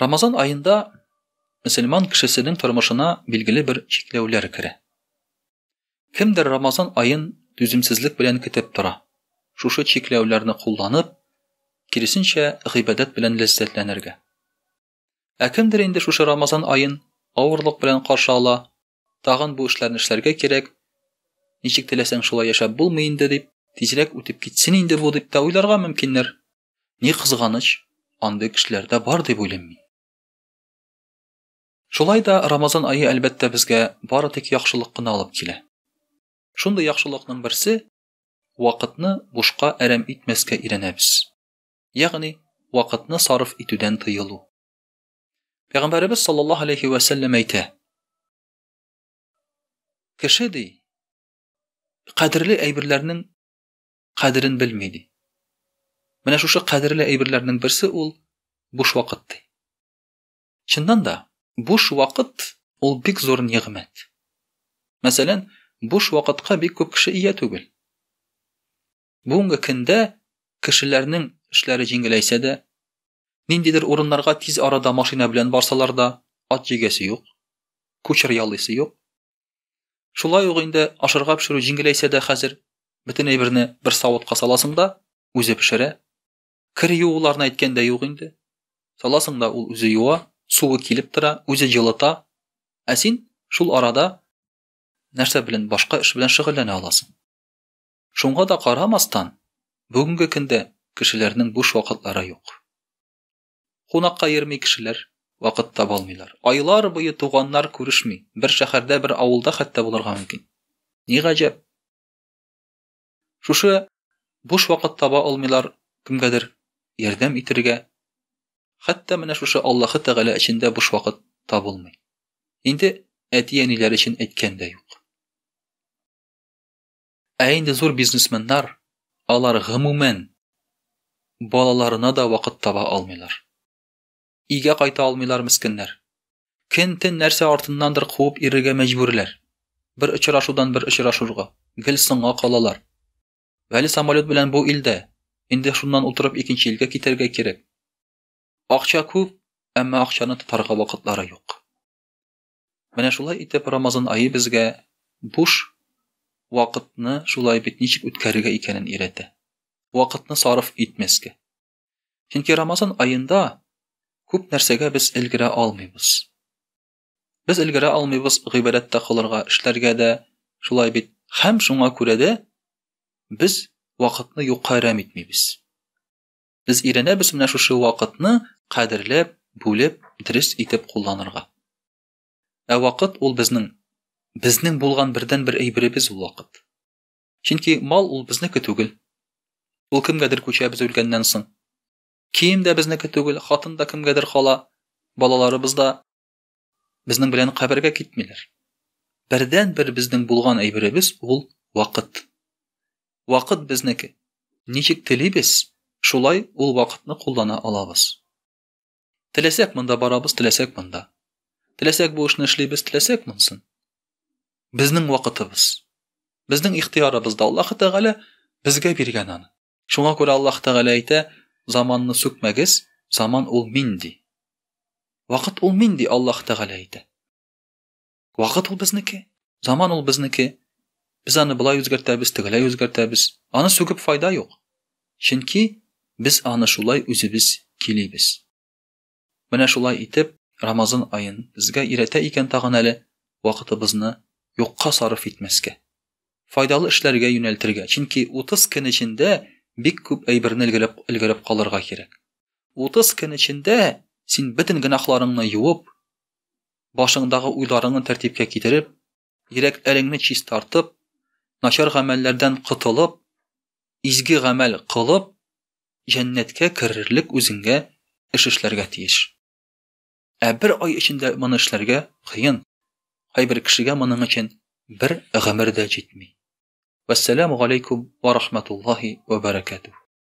Рамазан аенда мөселман кешесенең тормышына билгеле бер чикләүләр керә. Кемдер Рамазан аен түземсезлек белән көтеп тора. Шушы чикләүләрне кулланып, киресенчә гыйбадәт белән ләззәтләнергә. Ә кемдер инде шушы Рамазан аен авырлык белән каршы ала, Тагын бу эшләрне эшләргә кирәк. Ничек теләсәң шулай яшәп булмый инде дип, тизрәк үтеп китсен инде бу дип тә уйларга мөмкиннәр. Ни кызганыч, андый кешеләр дә бар дип уйлыйм мин. Шулай да Рамазан ае әлбәттә безгә бары тик яхшылык кына алып килә. Шундый яхшылыкның берсе вакытны бушка әрәм итмәскә өйрәнәбез. Ягъни вакытны сарыф итүдән тыелу. Пәйгамбәребез саллаллаһу алейхи ва сәлләм әйтә. Кеше ди, кадерле әйберләрнең кадерен белми ди. Менә шушы кадерле әйберләрнең берсе ул буш вакыт ди. Чыннан да, буш вакыт ул бик зур нигъмәт. Мәсәлән, буш вакытка бик күп кеше ия түгел. Бүгенге көндә кешеләрнең эшләре җиңеләйсә дә, ниндидер урыннарга тиз арада машина белән барсалар да, ат җигәсе юк, кучер ялыйсы юк. Шулай ук инде ашарга пешерү җиңеләйсә дә хәзер, бөтен әйберне бер савытка саласың да, үзе пешерә. Кер юуларны әйткән дә юк инде. Саласың да ул үзе юа, суы килеп тора, үзе җылыта. Ә син шул арада нәрсә белән башка эш белән шөгыльләнә аласың. Шуңа да карамастан, бүгенге көндә кешеләрнең буш вакытлары юк. Кунакка йөрми кешеләр, вакыт таба алмыйлар. Айлар буе туганнар күрешми, бер шәһәрдә, бер авылда хәтта булырга мөмкин. Ни гаҗәп? Шушы буш вакыт таба алмыйлар кемгәдер ярдәм итергә. Хәтта менә шушы Аллаһы Тәгалә өчен дә буш вакыт табылмый. Инде әти-әниләр өчен әйткән дә юк. Ә инде зур бизнесменнар, алар гомумән балаларына да вакыт таба алмыйлар. Игә кайта алмыйлар мескеннәр. Кентен нәрсә артыннандыр куып ирергә мәҗбүрләр. Бер очрашудан бер очрашурга, гел соңга калалар. Вәли самолет белән бу илдә, инде шуннан утырып икенче илгә китәргә кирәк. Акча күп, әмма акчаны тотарга вакытлары юк. Менә шулай итеп Рамазан ае безгә буш вакытны шулай бит ничек үткәрергә икәнен өйрәтә. Вакытны сарыф итмәскә. Чөнки Рамазан аенда күп нәрсәгә без өлгерә алмыйбыз. Без өлгерә алмыйбыз гыйбадәт тә кылырга, эшләргә дә, шулай бит. Һәм шуңа күрә дә без вакытны юкка әрәм итмибез. Без өйрәнәбез менә шушы вакытны кадерләп, бүлеп, дөрес итеп кулланырга. Ә вакыт ул безнең безнең булган бердәнбер әйберебез ул вакыт. Чөнки мал ул безнеке түгел. Ул кемгәдер күчә без үлгәннән соң. Кием дә безнеке түгел, хатын да кемгәдер кала, балаларыбыз да. Безнең белән кабергә китмиләр. Бердән бер безнең булган әйберебез ул вакыт. Вакыт безнеке. Ничек телибез, шулай ул вакытны куллана алабыз. Теләсәк монда барабыз, теләсәк монда. Теләсәк бу эшне эшлибез, теләсәк монсын. Безнең вакытыбыз. Безнең ихтиярыбызда Аллаһ Тәгалә безгә биргән аны. Шуңа күрә Аллаһ Тәгалә әйтә, заманны сүкмәгез, заман ул мин ди. Вакыт ул мин ди Аллаһ Тәгалә әйтә. Вакыт ул безнеке, заман ул безнеке. Без аны болай үзгәртәбез, тегеләй үзгәртәбез. Аны сүгеп файда юк. Чөнки без аны шулай үзебез килибез. Менә шулай итеп, Рамазан аен безгә өйрәтә икән тагын әле вакытыбызны юкка сарыф итмәскә, файдалы эшләргә юнәлтергә, чөнки 30 көн эчендә бик күп әйберне өлгереп өлгереп калырга кирәк. 30 көн эчендә син бөтен гөнаһларыңны юып, башыңдагы уйларыңны тәртипкә китереп, Йөрәкләреңне чистартып, начар гамәлләрдән котылып, изге гамәл кылып, җәннәткә керерлек үзеңгә эш эшләргә тиеш. Ә бер ай эчендә моны эшләргә кыен. Кайбер кешегә моның өчен бер гомер дә җитми. Вәссәламу галәйкүм вә рахматуллаһи вә бәрәкәтүһ.